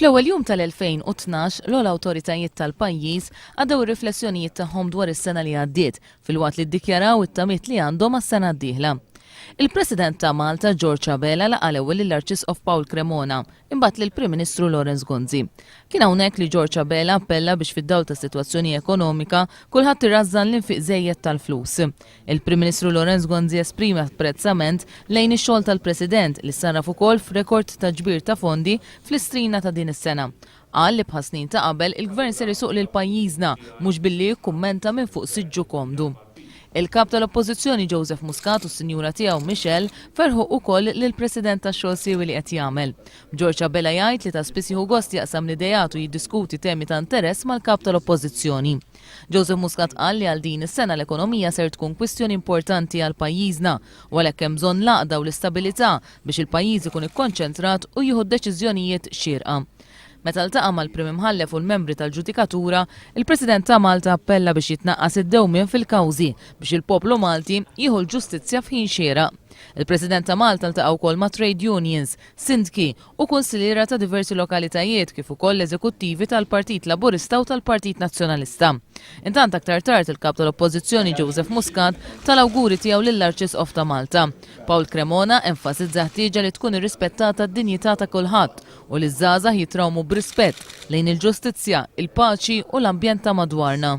Fl-ewwel jum tal-2012, l-ogħla awtoritajiet tal-pajjiż għaddew ir-riflessjonijiet tagħhom dwar is-sena li għaddiet, filwaqt li ddikjaraw it-tamiet li għandhom għas-sena d-dieħla. Il-President ta' Malta, George Abela laqa' l-ewwel lill-Arċisqof Paul Cremona, imbagħad lill-Prim Ministru Lawrence Gonzi. Kien hawnhekk li George Abela appella biex fid-dawl tas-sitwazzjoni ekonomika, kulħadd irażżan l-infiq żejjed tal-flus. Il-Prim Ministru Lawrence Gonzi esprime apprezzament lejn ix-xogħol tal-President li sarraf ukoll f'rekord ta' ġbir ta' fondi fl-Istrina ta' din is-sena. Qal li bħas-snin ta' qabel il-Gvern ser isuq lil pajjiżna mhux billi jikkummenta minn fuq siġġu komdu. Il-Kap tal-Oppożizzjoni Joseph Muscat u s-Sinjura tiegħu Michelle ferħu ukoll lill-President tax-xogħol siewi li qed jagħmel. B'Ġorġ Abela jgħid li ta' spiss jieħu gost jaqsam l-ideat u jiddiskuti temi ta' interess mal-Kap tal-Oppożizzjoni. Joseph Muscat qal li għal din is-sena l-ekonomija ser tkun kwistjoni importanti għal pajjiżna u għalhekk hemm bżonn l-għaqda u l-istabilità biex il-pajjiż ikun ikkonċentrat u jieħu d-deċiżjonijiet xierqa. Meta ltaqa' mal-Prim Imħallef u l-membri tal-ġudikatura, il-President ta' Malta appella biex jitnaqqas id-dewmien fil-kawżi biex il-poplu Malti jieħu l-ġustizzja f'ħin xieraq. Il-President ta' Malta ltaqa' wkoll ma' trade unions, sindki u kunsilliera ta' diversi lokalitajiet kif ukoll l-eżekuttivi tal-Partit Laburista u tal-Partit Nazzjonalista. Intant aktar tard il-Kap tal-Oppożizzjoni Joseph Muscat ta l-awguri tiegħu lill-Arċisqof ta' Malta. Paul Cremona enfasizza ħtieġa li tkun irrispettata d-dinjità ta' kulħadd u li ż-żgħażagħ jitrawmu b'rispett lejn il-ġustizzja, il-paċi u l-ambjent ta' madwarna.